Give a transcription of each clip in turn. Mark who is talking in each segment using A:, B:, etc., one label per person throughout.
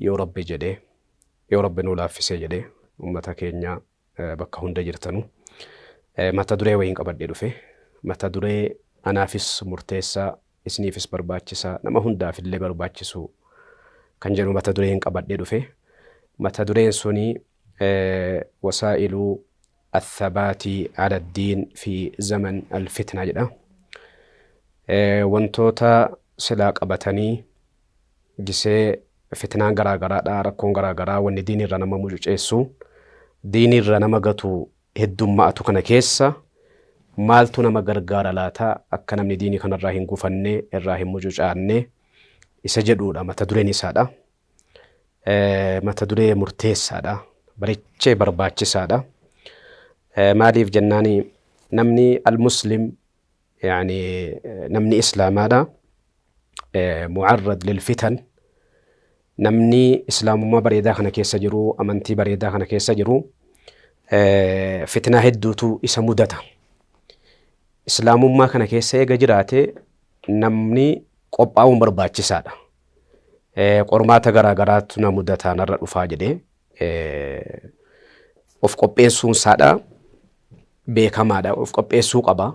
A: Yoo Rabbi jedhee, yoo Rabbi nuu laaffisee jedhee ummata keenya bakka hunda jirtanu mata duree wayiin qabadhee dhufe. Mata duree anaafis murteessaa, isiniifis barbaachisaa, nama hundaaf illee barbaachisu kan jedhu mata dureen qabadhee dhufe. Mata dureen suni wasaa'iluu Athabaati ala diin fi zaman al fitnaa jedha. Wantoota silaa qabatanii gisee fitnaan garaa garaadha rakkoon garaa garaa wanni diin irra nama mucuceessu diin irra nama gatu heddumma'atu kana keessa maaltu nama gargaara laata akka namni diinii kanarraa hin gufanne irraa hin mucucaanne isa jedhuudha mata dureen isaadha. mata duree murteessaadha. Barichee barbaachisaadha. Maaliif jennaani namni al-muslim yaani namni islaamaadha. Mu'arrad lilfitan namni islaamummaa bareedaa kana keessa jiru amantii bareedaa kana keessa jiru fitnaa hedduutu isa mudata. Islaamummaa kana keessa eega jiraate namni qophaa'uun barbaachisaadha. qormaata garaa garaatu na mudataa narra dhufaa jedhee of qopheessuun isaadha beekamaadha of qopheessuu qaba.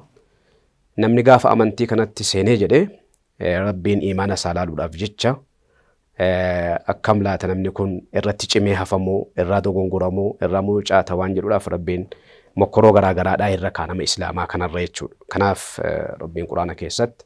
A: Namni gaafa amantii kanatti seenee jedhee rabbiin imaana isaa laaluudhaaf jecha akkam laata namni kun irratti cimee hafamoo irraa dogongoramoo irraa mucaata waan jedhuudhaaf rabbiin mokkoroo garaa garaadhaa irra kaanama islaamaa kanarra jechuudha. Kanaaf rabbiin quraana keessatti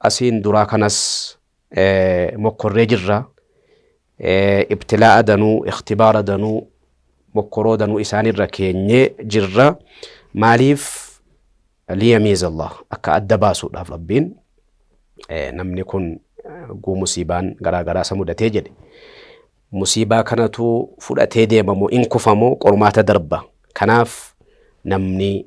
A: Asiin duraa kanas mokkorree jirra. Ibtilaa'a danuu, ikhtibaara danuu, mokkoroo danuu isaanirra keenyee jirra. Maaliif? Liyamiiza Allah. Akka adda baasuudhaaf Rabbiin namni kun guu musiibaan garaa garaa isa mudatee jedhe. Musiibaa kanatu fudhatee deemamoo in kufamoo qormaata darba. Kanaaf namni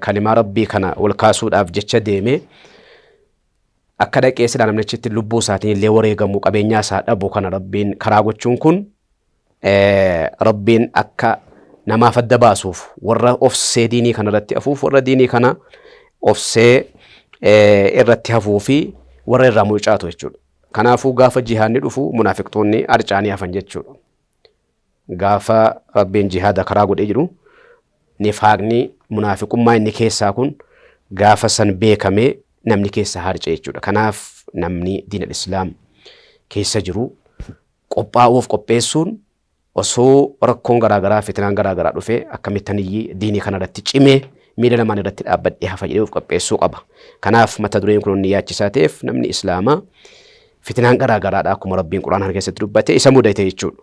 A: kalimaa rabbii kana ol kaasuudhaaf jecha deemee akka dhaqee silaa namnichitti lubbuu isaatiin illee wareegamu qabeenyaa isaa dhabu kana rabbiin karaa gochuun kun rabbiin akka namaaf adda baasuuf warra ofsee diinii kana irratti hafuuf warra diinii kana ofsee irratti hafuu fi warra irraa mucaatu jechuudha. Kanaafuu gaafa jihaanni dhufu munaafiqtoonni arcaanii hafan jechuudha. Gaafa Rabbiin jihaada karaa godhee jedhu nifaaqni, munaafiqummaa inni keessaa kun gaafa san beekamee namni keessaa harca'e jechuudha. Kanaaf namni diin al-Islaam keessa jiru qophaa'uuf qopheessuun osoo rakkoon garaagaraa fitinaan garaagaraa dhufee akkamittaniyyi diinii kanarratti cimee miila lamaan irratti dhaabbadhee hafa jedhee of qopheessuu qaba. Kanaaf mata dureen kun inni yaachisaa ta'eef namni Islaamaa Fitinaan garaa garaadha akkuma Rabbiin Qur'aan kana keessatti dubbate isa mudate jechuudha.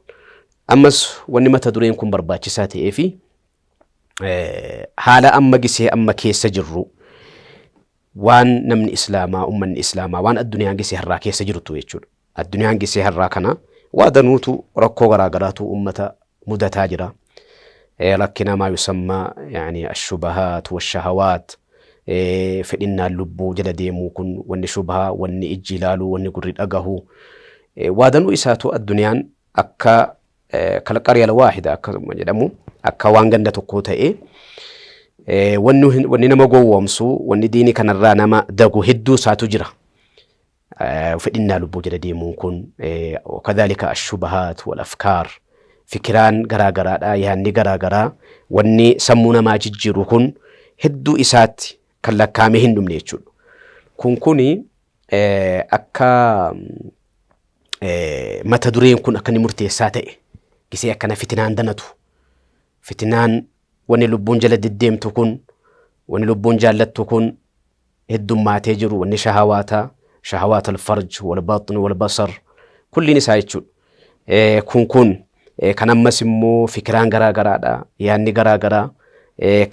A: Ammas wanni mata dureen kun barbaachisaa ta'ee fi haala amma gisee amma keessa jirru waan namni Islaamaa ummanni Islaamaa waan addunyaan gisee har'aa keessa jirtu jechuudha. Addunyaan gisee har'aa kana waa danuutu rakkoo garaa garaatu ummata mudataa jira. Rakkina maa yusammaa yani ashubahaat washahawaat fedhinnaan lubbuu jala deemuu kun wanni shubhaa wanni ijji ilaaluu wanni gurri dhagahu waadanuu isaatu addunyaan akka kalqariya alwaahida akkasuma jedhamu akka waan ganda tokkoo ta'ee wanni nama gowwoomsu wanni diini kanarraa nama dagu hedduu isaatu jira. fedhinnaa lubbuu jala deemuun kun kadhalika ashubahaat wal afkaar fikiraan garaa garaadha yaanni garaa garaa wanni sammuu namaa jijjiiru kun hedduu isaatti kan lakkaamee hin dhumne jechuudha. Kun kuni akka mata dureen kun akka inni murteessaa ta'e gisee akkana fitinaan danatu fitinaan wanni lubbuun jala deddeemtu kun wanni lubbuun jaallattu kun heddummaatee jiru wanni shahawaataa shahawaat alfarj walbaxn walbasar kulliin isaa jechuudha kun kun kan ammas immoo fikiraan garaa garaadha yaanni garaa garaa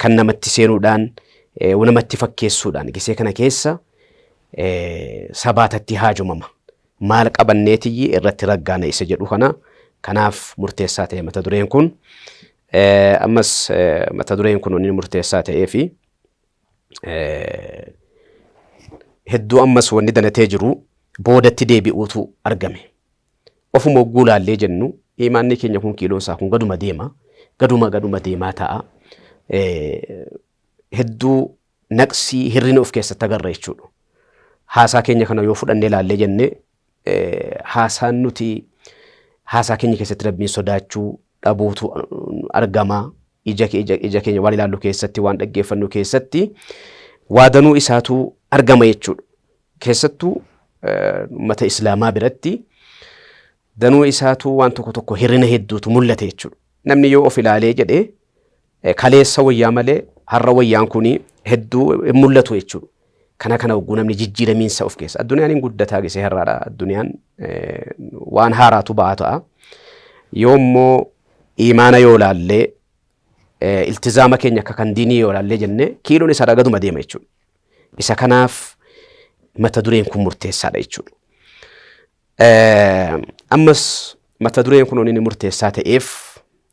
A: kan namatti seenuudhaan namatti fakkeessuudhaan gisee kana keessa sabaatatti haajomama maal qabanneetiyyi irratti raggaana isa jedhu kana kanaaf murteessaa ta'e mata dureen kun ammas mata dureen kun inni murteessaa ta'ee fi hedduu ammas wanni danatee jiru boodatti deebi'uutu argame. Ofuma hogguu laallee jennu imaanni keenya kun kiiloon isaa kun gaduma deema. Gaduma gaduma deemaa ta'a. Hedduu naqsii hirrina of keessatti agarra jechuudha. Haasaa keenya kana yoo fudhannee laallee jennee haasaan nuti haasaa keenya keessatti rabbiin sodaachuu dhabuutu argama. Ija, ija, ija keenya waan ilaallu keessatti waan dhaggeeffannu keessatti waadanuu isaatu argama jechuudha. Keessattuu uummata islaamaa biratti danuu isaatu waan tokko tokko hirrina hedduutu mul'ate jechuudha. Namni yoo of ilaalee jedhee Kaleessa wayyaa malee har'a wayyaan kun hedduu hin mul'atu jechuudha. Kana kana hogguu namni jijjiiramiinsa of keessa. Addunyaan hin guddataa gisee har'aadha. Addunyaan waan haaraatu ba'aa ta'a. Yoo immoo imaana yoo laallee iltizaama keenya akka kan diinii yoo laallee jennee kiiloon isa ragaduma deema jechuudha. Isa kanaaf mata dureen kun murteessaadha jechuudha. Ammas mata dureen kun inni murteessaa ta'eef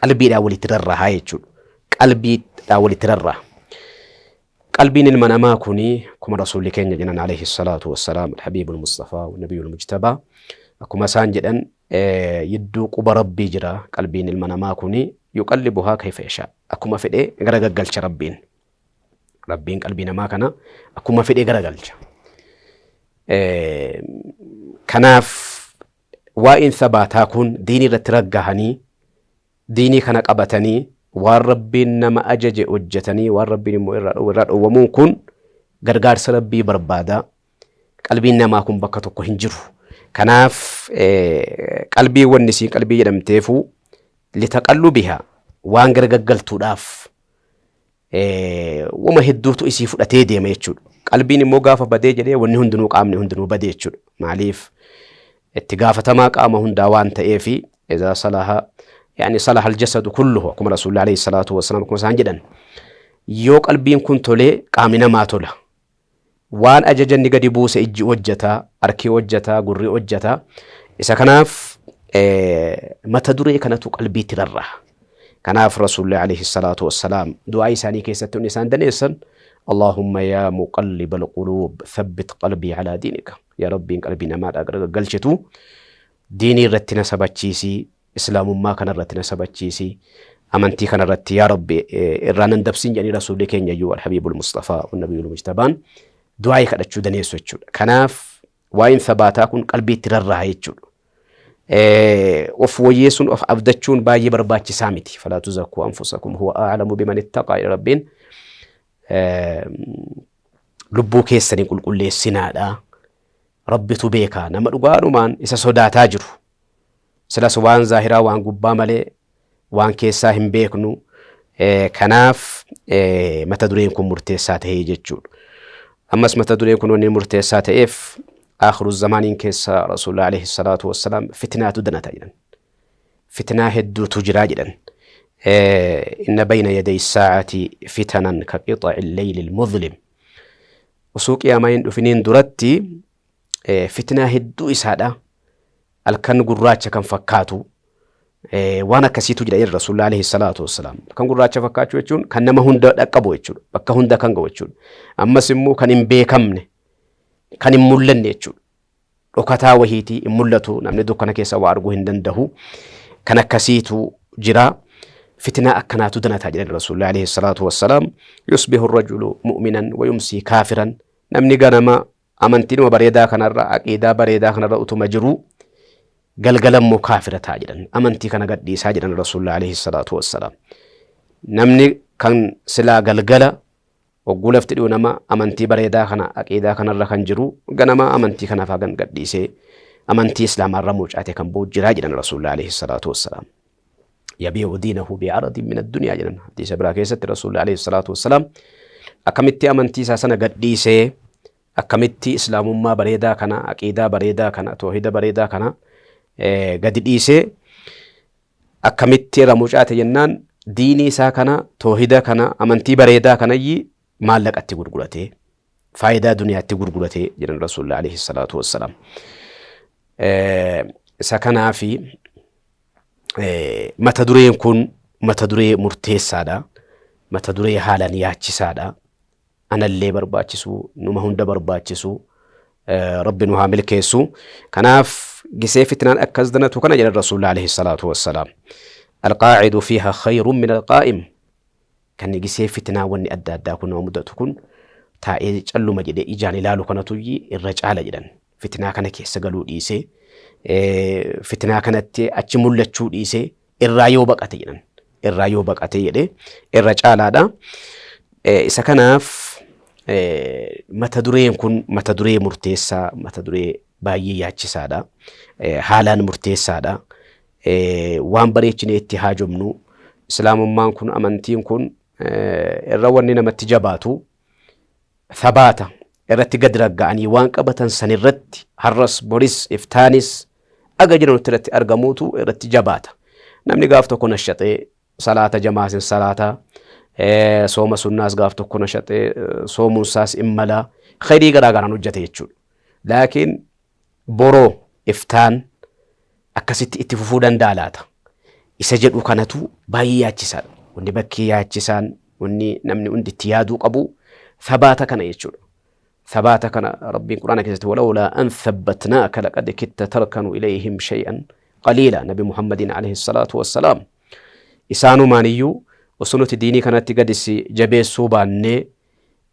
A: Qalbiidhaan walitti rarrahaa jechuudha. Qalbiidhaan walitti rarraha. Qalbiin ilma namaa kuni akkuma rasuulli keenya jedhan alayhi salaatu wassalaam alhabiibul mustafaa nabiyul mujtabaa akkuma isaan jedhan eh, yidduu quba rabbii jira qalbiin ilma namaa kuni yuqallibuhaa kayfa yashaa akkuma fedhee gara gaggalcha rabbiin rabbiin qalbii namaa kana akkuma fedhee gara galcha. Eh, Kanaaf Waa'een sabaataa kun diinii irratti raggahanii, diinii kana qabatanii, waan Rabbiin nama ajaje hojjatanii, waan Rabbiin immoo irraa dhoowwe irraa dhoowwamuun kun gargaarsa Rabbii barbaada. Qalbiin namaa kun bakka tokko hin jiru. Kanaaf qalbii wanni isiin qalbii jedhamteefuu litaqallubihaa waan garagaggaltuudhaaf woma hedduutu isii fudhatee deema jechuudha. Qalbiin immoo gaafa badee jedhee wanni hundinuu qaamni hundinuu bade jechuudha. Maaliif itti gaafatamaa qaama hundaa waan ta'eef izaa salaha yaani salaha aljasadu kulluhu akkuma rasuulli alayhi salaatu wassalaam akkuma isaan jedhan yoo qalbiin kun tolee qaamni namaa tola Waan ajaja inni gadi buuse ijji hojjata, harki hojjata, gurri hojjata. Isa kanaaf mata duree kanatu qalbiitti rarra'a. Kanaaf Rasuulli alayhi salaatu wassalaam du'aa isaanii keessatti inni isaan daneessan Allaahumma yaa muqalliba alquluub thabbit qalbii alaa diinika. Yaa Rabbiin qalbii namaadhaa gara gaggalchitu diinii irratti na sabachiisii Islaamummaa kana irratti na sabachiisi. Amantii kana irratti yaa Rabbi irraa nan dabsin jedhanii Rasuulli keenya iyyuu Alhabiibul Mustafaa Nabiyyul Mujtabaan du'aa'ii kadhachuu daneessu jechuudha. Kanaaf waa'een sabaataa kun qalbiitti rarraa'e jechuudha. Of woyyeessuun of abdachuun baay'ee barbaachisaa miti. Falaa tuzakkuu anfusakum huwa a'lamu biman ittaqaa jedha Rabbiin. Lubbuu keessanii qulqulleessinaadha. Rabbitu beekaa nama dhugaadhumaan isa sodaataa jiru. Silas waan zaahiraa waan gubbaa malee waan keessaa hin beeknu. Kanaaf mata dureen kun murteessaa ta'ee jechuudha. Ammas mata dureen kun wanni murteessaa ta'eef akhiru zamaaniin keessa rasuulli alayhi salaatu wassalaam fitnaatu danata jedhan. Fitnaa hedduutu jiraa jedhan. Inna bayna yaday saa'ati fitanan ka qixa'i leeyli muzlim. Osoo qiyaamaa hin dhufiniin duratti eh, fitnaa hedduu isaadha halkan gurraacha kan fakkaatu eh, waan akkasiitu jira jedhe rasuulli alayhi salaatu wassalaam kan gurraacha fakkaachuu jechuun kan nama hunda dhaqqabu jechuudha bakka hunda kan ga'u jechuudha ammas immoo kan hin beekamne kan hin mul'anne jechuudha dhokataa wahiitii hin mul'atu namni dukkana keessa waa arguu hin danda'u kan akkasiitu jira fitnaa akkanaatu danataa jedhan rasuulli alayhi salaatu wassalaam yusbihu rajulu mu'minan wa yumsii kaafiran namni ganama Amantiidhuma bareedaa kanarra, aqiidaa bareedaa kanarra utuma jiruu galgala immoo kaafira ta'a jedhan. Amantii kana gadhiisaa jedhan Rasuulli alayhi salaatu wassalaam. Namni kan silaa galgala hogguu lafti dhi'u nama amantii bareedaa kana aqiidaa kanarra kan jiru ganama amantii kanaaf hagan gadhiisee amantii islaamaarra mucaate kan ba'u jiraa jedhan Rasuulli alayhi salaatu wassalaam. yabii'u diinahu bi'aradin min addunyaa jedhan hadiisa biraa keessatti rasuulli alayhi salaatu wassalaam akkamitti amantii isaa sana gadhiisee akkamitti islaamummaa bareedaa kana aqiidaa bareedaa kana toohida bareedaa kana gadi dhiisee akkamitti irra mucaate jennaan diinii isaa kana toohida kana amantii bareedaa kanayyi maallaqatti gurguratee faayidaa duniyaatti gurgurate jedhan rasuulli alayhi salaatu wassalaam. Isa kanaafi mata dureen kun mata duree murteessaadha. Mata duree haalaan yaachisaadha. Anallee barbaachisu, numa hunda barbaachisu. Rabbi nu haa milkeessu. Kanaaf gisee fitnaan akkas danatu kana jedhan rasuulli alayhi salaatu wassalaam. Alqaacidu fiiha khayrun min alqaa'im. Kan nigisee fitinaa wanni adda addaa kun nama mudatu kun taa'ee calluma jedhee ijaan ilaalu kanatuyyi irra caala jedhan. Fitinaa kana keessa galuu dhiisee fitinaa kanatti achi mul'achuu dhiisee irraa yoo baqate jedhan. Irraa yoo baqate jedhee irra caalaadha. Isa kanaaf mata dureen kun mata duree murteessaa mata duree baay'ee yaachisaadha. Haalaan murteessaadha. waan bareechinee itti haajomnu islaamummaan kun amantiin kun irra wanni namatti jabaatu sabaata irratti gad ragga'anii waan qabatan san irratti har'as boris iftaanis aga jiranutti irratti argamuutu irratti jabaata namni gaaf tokko nashaxee salaata jamaasin salaata sooma sunnaas gaaf tokko nashaxee soomuunsaas immala khayrii garaa garaan hojjate jechuudha laakiin Boroo iftaan akkasitti itti fufuu danda'a laata? Isa jedhu kanatu baay'ee yaachisaadha. Wanni bakkee yaachisaan wanni namni hundi itti yaaduu qabu sabaata kana jechuudha. Sabaata kana Rabbiin Quraana keessatti walawlaa an thabbatnaaka laqad kitta tarkanu ilayhim shay'an qaliila Nabi Muhammadiin alayhi salaatu wassalaam. Isaanumaan iyyuu osoo nuti diinii kanatti gadisi jabeessuu baannee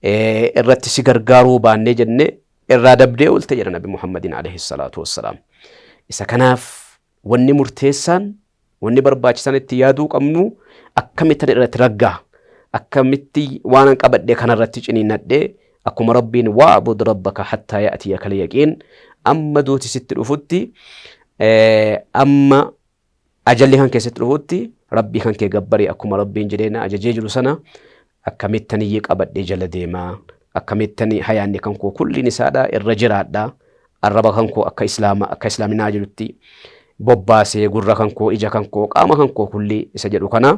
A: irratti si gargaaruu baannee jennee irraa dabdee oolte jedha Nabi Muhammadiin alayhi salaatu wassalaam. Isa kanaaf wanni murteessaan wanni barbaachisaan itti yaaduu qabnu akkamittan irratti raggaa akkamitti waanan qabadhe kanarratti ciniinnadhee akkuma rabbiin wa'bud rabbaka hattaa ya'tiyakal yaqiin amma duuti sitti dhufutti amma Ajalli kan kee sitti dhufutti Rabbii kan kee gabbari akkuma Rabbiin jedhee na ajajee jiru sana akkamittan iyyi qabadhee jala deema akkamittan hayaanni kan koo kulliin isaadha irra jiraadha arraba kan koo akka islaama akka islaaminaa jedhutti bobbaasee gurra kan koo ija kan koo qaama kan koo kulli isa jedhu kana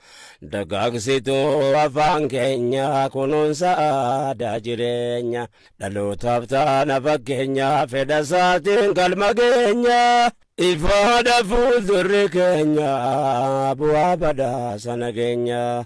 B: Dagaagsituu afaan keenya kunuunsa aadaa jireenya dhalootaaf taana fakkeenya fedha isaatiin galma geenya ifaadha fuuldurri keenya bu'aa badhaasa nageenya.